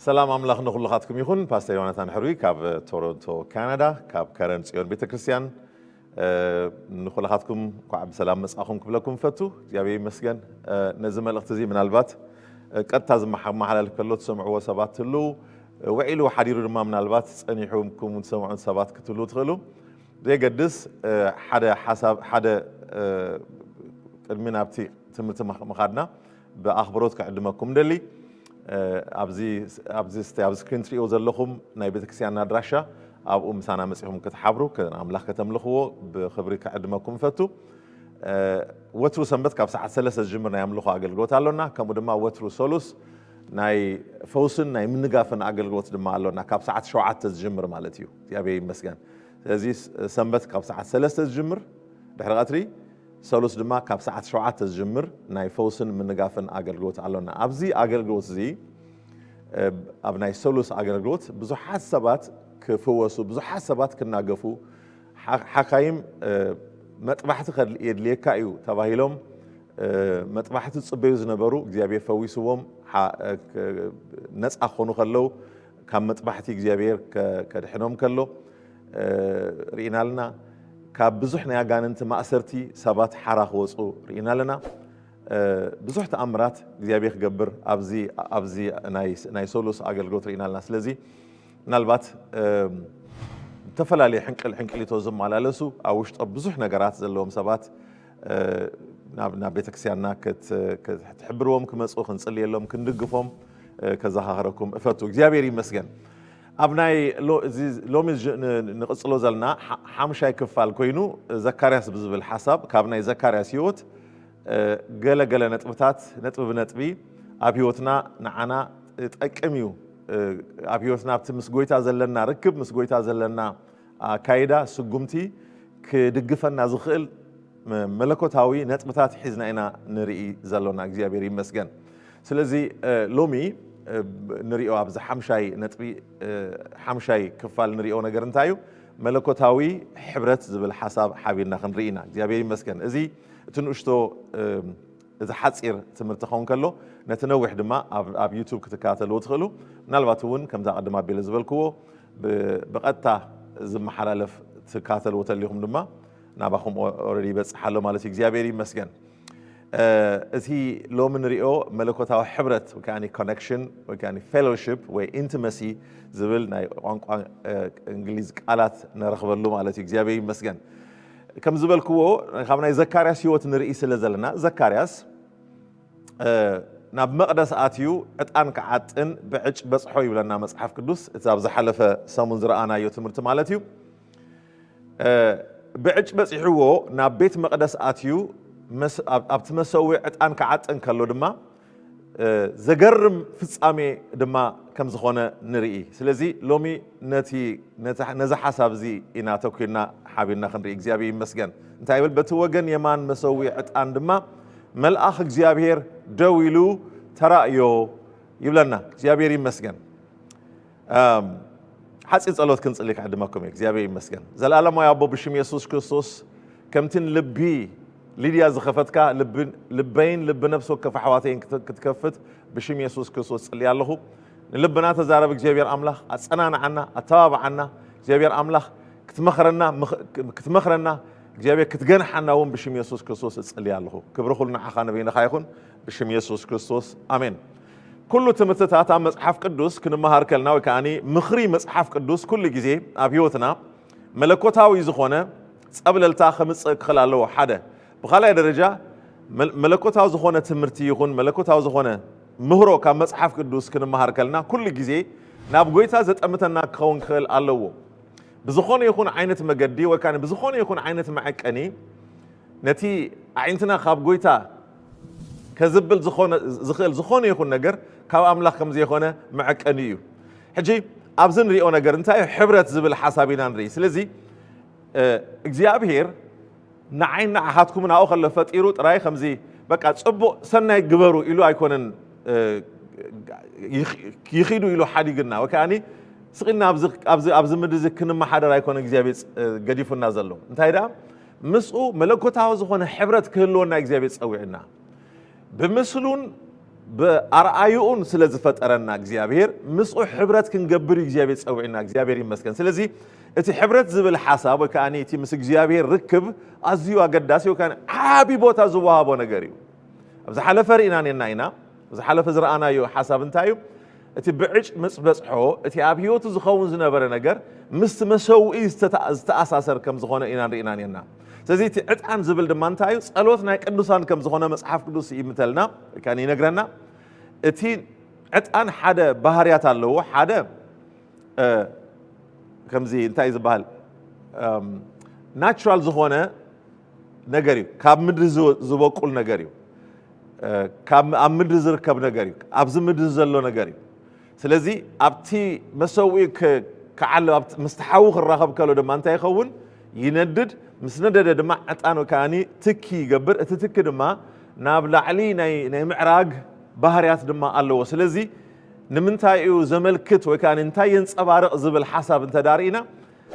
ሰላም ኣምላኽ ንኹልኻትኩም ይኹን። ፓስተር ዮናታን ሕሩይ ካብ ቶሮንቶ ካናዳ ካብ ከረን ጽዮን ቤተ ክርስቲያን እ፣ ንኹልኻትኩም እንኳዕ ብሰላም መጻኹም ክብለኩም ፈቱ። እግዚኣብሔር ይመስገን። እ፣ ነዚ መልእኽቲ እዚ ምናልባት እ፣ ቀጥታ ዝመሓላለፍ ከሎ ትሰምዕዎ ሰባት ትህልው፣ እ፣ ውዒሉ ሓዲሩ ድማ ምናልባት ጸኒሑኩም ትሰምዑን ሰባት ክትህልው ትኽእሉ። ዘየገድስ ሓደ ሓሳብ ሓደ ቅድሚ ናብቲ ትምህርቲ ምኻድና ብኣኽብሮት ክዕድመኩም ደሊ ኣብዚ ኣብዚ ስክሪን ትሪእዎ ዘለኹም ናይ ቤተክርስትያንና ኣድራሻ ኣብኡ ምሳና መፂኹም ክትሓብሩ ኣምላኽ ከተምልኽዎ ብኽብሪ ክዕድመኩም እፈቱ ወትሩ ሰንበት ካብ ሰዓት ሰለስተ ዝጅምር ናይ ኣምልኾ ኣገልግሎት ኣሎና ከምኡ ድማ ወትሩ ሰሉስ ናይ ፈውስን ናይ ምንጋፍን ኣገልግሎት ድማ ኣሎና ካብ ሰዓት ሸውዓተ ዝጅምር ማለት እዩ እግዚኣብሔር ይመስገን ስለዚ ሰንበት ካብ ሰዓት ሰለስተ ዝጅምር ድሕሪ ቐትሪ፣ ሰሉስ ድማ ካብ ሰዓት ሸውዓተ ዝጅምር ናይ ፈውስን ምንጋፍን ኣገልግሎት ኣሎና። ኣብዚ ኣገልግሎት እዚ ኣብ ናይ ሰሉስ ኣገልግሎት ብዙሓት ሰባት ክፍወሱ፣ ብዙሓት ሰባት ክናገፉ፣ ሓካይም መጥባሕቲ የድልየካ እዩ ተባሂሎም መጥባሕቲ ዝጽበዩ ዝነበሩ እግዚኣብሔር ፈዊስዎም ነጻ ክኾኑ ከለው ካብ መጥባሕቲ እግዚኣብሔር ከድሕኖም ከሎ ርኢና ኣለና። ካብ ብዙሕ ናይ ኣጋንንቲ ማእሰርቲ ሰባት ሓራ ክወፁ ርኢና ኣለና። ብዙሕ ተኣምራት እግዚኣብሔር ክገብር ኣብዚ ናይ ሰሉስ ኣገልግሎት ርኢና ኣለና። ስለዚ ምናልባት ዝተፈላለየ ሕንቅል ሕንቅሊቶ ዝመላለሱ ኣብ ውሽጦ ብዙሕ ነገራት ዘለዎም ሰባት ናብ ናብ ቤተክርስቲያንና ክትሕብርዎም ክመፁ ክንፅልየሎም ክንድግፎም ከዘኻኸረኩም እፈቱ እግዚኣብሔር ይመስገን ኣብ ናይ ሎሚ ንቕፅሎ ዘለና ሓምሻይ ክፋል ኮይኑ ዘካርያስ ብዝብል ሓሳብ ካብ ናይ ዘካርያስ ህይወት ገለ ገለ ነጥብታት ነጥቢ ብነጥቢ ኣብ ህይወትና ንዓና ጠቅም እዩ ኣብ ህይወትና ኣብቲ ምስ ጎይታ ዘለና ርክብ ምስ ጎይታ ዘለና ኣካይዳ ስጉምቲ ክድግፈና ዝኽእል መለኮታዊ ነጥብታት ሒዝና ኢና ንርኢ ዘሎና እግዚኣብሔር ይመስገን ስለዚ ሎሚ ንሪኦ ኣብዚ ሓምሻይ ነጥቢ ሓምሻይ ክፋል ንሪኦ ነገር እንታይ እዩ መለኮታዊ ሕብረት ዝብል ሓሳብ ሓቢርና ክንርኢ ኢና እግዚኣብሔር ይመስገን እዚ እቲ ንእሽቶ እዚ ሓጺር ትምህርቲ ክኸውን ከሎ ነቲ ነዊሕ ድማ ኣብ ዩቱብ ክትከታተልዎ ትኽእሉ። ምናልባት እውን ከምዛ ቅድም ኣቢለ ዝበልክዎ ብቐጥታ ዝመሓላለፍ ትከታተልዎ ተሊኹም ድማ ናባኹም ኦረዲ ይበጽሕ ኣሎ ማለት እዩ። እግዚኣብሔር ይመስገን። እዚ ሎሚ ንሪኦ መለኮታዊ ሕብረት ወይ ከዓኒ ኮነክሽን ወይ ከዓኒ ፌሎሺፕ ወይ ኢንቲመሲ ዝብል ናይ ቋንቋ እንግሊዝ ቃላት ንረኽበሉ ማለት እዩ። እግዚኣብሔር ይመስገን። ከም ዝበልክዎ ካብ ናይ ዘካርያስ ህይወት ንርኢ ስለ ዘለና ዘካርያስ ናብ መቕደስ ኣትዩ ዕጣን ክዓጥን ብዕጭ በጽሖ ይብለና መጽሓፍ ቅዱስ እቲ ኣብ ዝሓለፈ ሰሙን ዝረኣናዮ ትምህርቲ ማለት እዩ ብዕጭ በጺሕዎ ናብ ቤት መቕደስ ኣትዩ ኣብቲ መሰዊ ዕጣን ክዓጥን ከሎ ድማ ዘገርም ፍጻሜ ድማ ከም ዝኾነ ንርኢ። ስለዚ ሎሚ ነቲ ነዚ ሓሳብ እዚ ኢና ተኲርና ሓቢርና ክንርኢ እግዚኣብሔር ይመስገን። እንታይ ይብል? በቲ ወገን የማን መሰዊ ዕጣን ድማ መልኣኽ እግዚኣብሔር ደው ኢሉ ተራእዮ ይብለና። እግዚኣብሔር ይመስገን። ሓፂር ጸሎት ክንጽሊ ክዕድመኩም እዩ። እግዚኣብሔር ይመስገን ዘለዓለማዊ ኣቦ ብሽም የሱስ ክርስቶስ ከምቲ ልቢ ሊድያ ዝኸፈትካ ልበይን ልቢ ነፍሲ ወከፍ ኣሕዋተይን ክትከፍት ብሽም የሱስ ክርስቶስ ጽልያ ኣለኹ። ንልብና ተዛረብ እግዚኣብሔር ኣምላኽ ኣጸናንዓና፣ ኣተባብዓና እግዚኣብሔር ኣምላኽ ክትመኽረና ክትመኽረና እግዚኣብሔር ክትገንሓና እውን ብሽም የሱስ ክርስቶስ እጽልያ ኣለኹ። ክብሪ ኩሉ ንዓኻ ንበይንኻ ይኹን ብሽም የሱስ ክርስቶስ ኣሜን። ኩሉ ትምህርትታት ኣብ መጽሓፍ ቅዱስ ክንመሃር ከልና ወይ ከዓኒ ምኽሪ መጽሓፍ ቅዱስ ኩሉ ግዜ ኣብ ህይወትና መለኮታዊ ዝኾነ ጸብለልታ ከምጽእ ክኽእል ኣለዎ ሓደ ብኻልኣይ ደረጃ መለኮታዊ ዝኾነ ትምህርቲ ይኹን መለኮታዊ ዝኾነ ምህሮ ካብ መጽሓፍ ቅዱስ ክንመሃር ከልና ኩሉ ግዜ ናብ ጎይታ ዘጠምተና ክኸውን ክኽእል ኣለዎ ብዝኾነ ይኹን ዓይነት መገዲ ወይ ከዓ ብዝኾነ ይኹን ዓይነት መዐቀኒ ነቲ ኣዒንትና ካብ ጎይታ ከዝብል ዝኾነ ዝኽእል ዝኾነ ይኹን ነገር ካብ ኣምላኽ ከም ዘይኾነ መዐቀኒ እዩ። ሕጂ ኣብዚ ንሪኦ ነገር እንታይ እዩ ሕብረት ዝብል ሓሳብ ኢና ንርኢ። ስለዚ እግዚኣብሄር ንዓይ ንዓኻትኩም ናኡ ከሎ ፈጢሩ ጥራይ ከምዚ በቃ ጽቡቕ ሰናይ ግበሩ ኢሉ ኣይኮነን ይኺዱ ኢሉ ሓዲግና ወይ ከዓኒ ስቕ ኢልና ኣብዚ ኣብዚ ኣብዚ ምድሪ እዚ ክንመሓደር ኣይኮነ እግዚኣብሄር ገዲፉና ዘሎ እንታይ ደኣ ምስኡ መለኮታዊ ዝኾነ ሕብረት ክህልወና እግዚኣብሔር ጸዊዑና። ብምስሉን ብኣርኣዩኡን ስለ ዝፈጠረና እግዚኣብሔር ምስኡ ሕብረት ክንገብር እዩ እግዚኣብሔር ጸዊዑና። እግዚኣብሔር ይመስገን። ስለዚ እቲ ሕብረት ዝብል ሓሳብ ወይ ከዓ እቲ ምስ እግዚኣብሔር ርክብ ኣዝዩ ኣገዳሲ ወይ ከዓ ዓቢ ቦታ ዝወሃቦ ነገር እዩ። ኣብ ዝሓለፈ ርኢና ኔና ኢና። ዝሓለፈ ዝረኣናዮ ሓሳብ እንታይ እዩ? እቲ ብዕጭ ምስ ዝበጽሖ፣ እቲ ኣብ ህይወቱ ዝኸውን ዝነበረ ነገር ምስቲ መሰውኢ ዝተኣሳሰር ከም ዝዀነ ኢና ንርኢና ኔርና። ስለዚ እቲ ዕጣን ዝብል ድማ እንታይ እዩ? ጸሎት ናይ ቅዱሳን ከም ዝዀነ መጽሓፍ ቅዱስ ይእምተልና ወይ ከኣ ይነግረና። እቲ ዕጣን ሓደ ባህርያት ኣለዎ። ሓደ ከምዚ እንታይ እዩ ዝበሃል ናቹራል ዝዀነ ነገር እዩ፣ ካብ ምድሪ ዝበቁል ነገር እዩ። ካብ ኣብ ምድሪ ዝርከብ ነገር እዩ ኣብዚ ምድሪ ዘሎ ነገር እዩ ስለዚ ኣብቲ መሰውኢ ክዓል ምስቲ ሓዊ ክራኸብ ከሎ ድማ እንታይ ይኸውን ይነድድ ምስ ነደደ ድማ ዕጣኑ ከዓኒ ትኪ ይገብር እቲ ትኪ ድማ ናብ ላዕሊ ናይ ምዕራግ ባህርያት ድማ ኣለዎ ስለዚ ንምንታይ እዩ ዘመልክት ወይ ከዓ እንታይ የንፀባርቕ ዝብል ሓሳብ እንተዳርኢና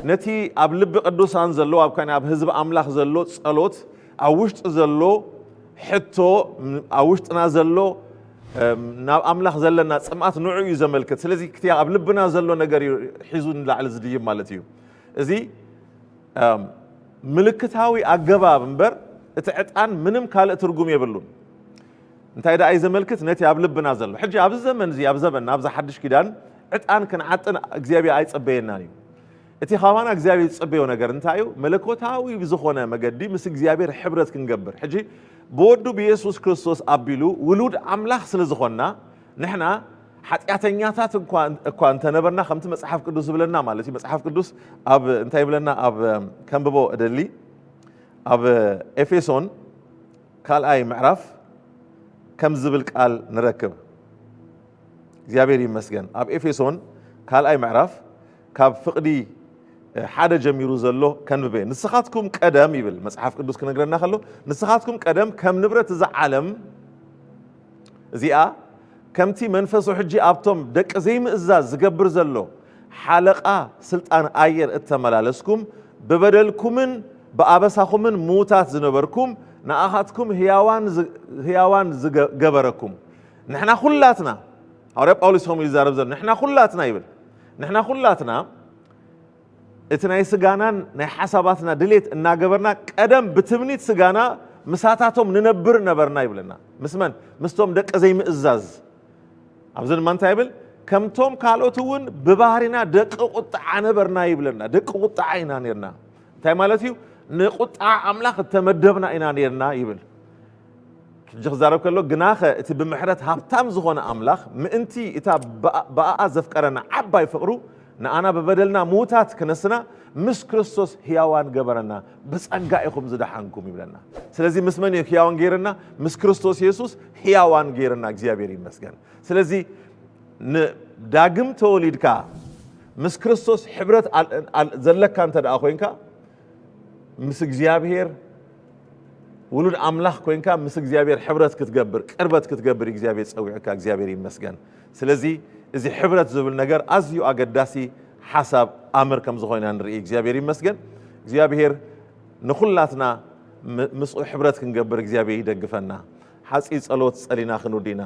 ነቲ ኣብ ልቢ ቅዱሳን ዘሎ ኣብ ካን ኣብ ህዝቢ ኣምላኽ ዘሎ ጸሎት ኣብ ውሽጢ ዘሎ ሕቶ ኣብ ውሽጥና ዘሎ ናብ ኣምላኽ ዘለና ጽምኣት ንዑ እዩ ዘመልክት ስለዚ ክቲ ኣብ ልብና ዘሎ ነገር እዩ ሒዙ ንላዕሊ ዝድይብ ማለት እዩ እዚ ምልክታዊ ኣገባብ እምበር እቲ ዕጣን ምንም ካልእ ትርጉም የብሉን እንታይ ደኣ እዩ ዘመልክት? ነቲ ኣብ ልብና ዘሎ። ሕጂ ኣብዚ ዘመን እዚ ኣብ ዘበንና ኣብዛ ሓድሽ ኪዳን ዕጣን ክንዓጥን እግዚኣብሔር ኣይጸበየናን እዩ። እቲ ካባና እግዚኣብሔር ዝጽበዮ ነገር እንታይ እዩ? መለኮታዊ ብዝኾነ መገዲ ምስ እግዚኣብሔር ሕብረት ክንገብር። ሕጂ ብወዱ ብየሱስ ክርስቶስ ኣቢሉ ውሉድ ኣምላኽ ስለ ዝኾንና ንሕና ሓጢኣተኛታት እኳ እኳ እንተነበርና ከምቲ መጽሓፍ ቅዱስ ዝብለና ማለት እዩ መጽሓፍ ቅዱስ ኣብ እንታይ ይብለና ኣብ ከምብቦ እደሊ ኣብ ኤፌሶን ካልኣይ ምዕራፍ ከምዚ ዝብል ቃል ንረክብ፣ እግዚኣብሔር ይመስገን ኣብ ኤፌሶን ካልኣይ ምዕራፍ ካብ ፍቕዲ ሓደ ጀሚሩ ዘሎ ከንብበ እየ። ንስኻትኩም ቀደም ይብል መጽሓፍ ቅዱስ ክነግረና ከሎ ንስኻትኩም ቀደም ከም ንብረት እዛ ዓለም እዚኣ ከምቲ መንፈሱ ሕጂ ኣብቶም ደቂ ዘይምእዛዝ ዝገብር ዘሎ ሓለቓ ስልጣን ኣየር እተመላለስኩም፣ ብበደልኩምን ብኣበሳኹምን ምዉታት ዝነበርኩም፣ ንኣኻትኩም ህያዋን ገበረኩም። ንሕና ዅላትና፣ ሃዋርያ ጳውሎስ ከምኡ እዩ ዝዛረብ ዘሎ፣ ንሕና ዅላትና ይብል፣ ንሕና ዅላትና፣ እቲ ናይ ስጋናን ናይ ሓሳባትና ድሌት እናገበርና ቀደም ብትምኒት ስጋና ምሳታቶም ንነብር ነበርና ይብለና። ምስ መን? ምስቶም ደቂ ዘይምእዛዝ። ኣብዚ ድማ እንታይ ይብል? ከምቶም ካልኦት እውን ብባህሪና ደቂ ቁጥዓ ነበርና ይብለና። ደቂ ቁጥዓ ኢና ነርና። እንታይ ማለት እዩ? ንቁጥዓ ኣምላኽ እተመደብና ኢና ነርና ይብል። ሕጂ ክዛረብ ከሎ፣ ግናኸ እቲ ብምሕረት ሃብታም ዝኾነ ኣምላኽ፣ ምእንቲ እታ ብኣኣ ዘፍቀረና ዓባይ ፍቕሩ፣ ንኣና ብበደልና ምዉታት ክነስና፣ ምስ ክርስቶስ ህያዋን ገበረና፣ ብጸጋ ኢኹም ዝደሓንኩም ይብለና። ስለዚ ምስ መን እዩ ህያዋን ገይርና? ምስ ክርስቶስ የሱስ ህያዋን ገይርና፣ እግዚኣብሔር ይመስገን። ስለዚ ን ዳግም ተወሊድካ ምስ ክርስቶስ ሕብረት ዘለካ እንተደኣ ኮይንካ፣ ምስ እግዚኣብሔር ውሉድ ኣምላኽ ኮንካ ምስ እግዚኣብሔር ሕብረት ክትገብር ቅርበት ክትገብር እዩ እግዚኣብሔር ፀዊዑካ እግዚኣብሔር ይመስገን ስለዚ እዚ ሕብረት ዝብል ነገር ኣዝዩ ኣገዳሲ ሓሳብ ኣምር ከም ዝኾይና ንርኢ እግዚኣብሔር ይመስገን እግዚኣብሔር ንኹላትና ምስኡ ሕብረት ክንገብር እግዚኣብሔር ይደግፈና ሓፂ ፀሎት ፀሊና ክንውዲና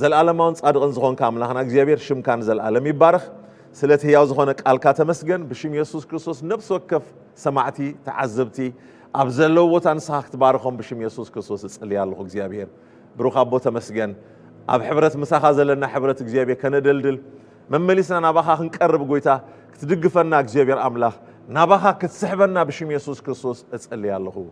ዘልኣለማውን ጻድቕን ዝኾንካ ኣምላኽና እግዚኣብሔር ሽምካ ንዘልኣለም ይባረኽ። ስለቲ ህያው ዝኾነ ቃልካ ተመስገን። ብሽም የሱስ ክርስቶስ ነፍሲ ወከፍ ሰማዕቲ ተዓዘብቲ ኣብ ዘለዉ ቦታ ንስኻ ክትባርኾም ብሽም የሱስ ክርስቶስ እጽልይ ኣለኹ። እግዚኣብሔር ብሩኽ ኣቦ ተመስገን። ኣብ ሕብረት ምሳኻ ዘለና ሕብረት እግዚኣብሔር ከነደልድል መመሊስና ናባኻ ክንቀርብ ጎይታ ክትድግፈና እግዚኣብሔር ኣምላኽ ናባኻ ክትስሕበና ብሽም የሱስ ክርስቶስ እጽልይ ኣለኹ።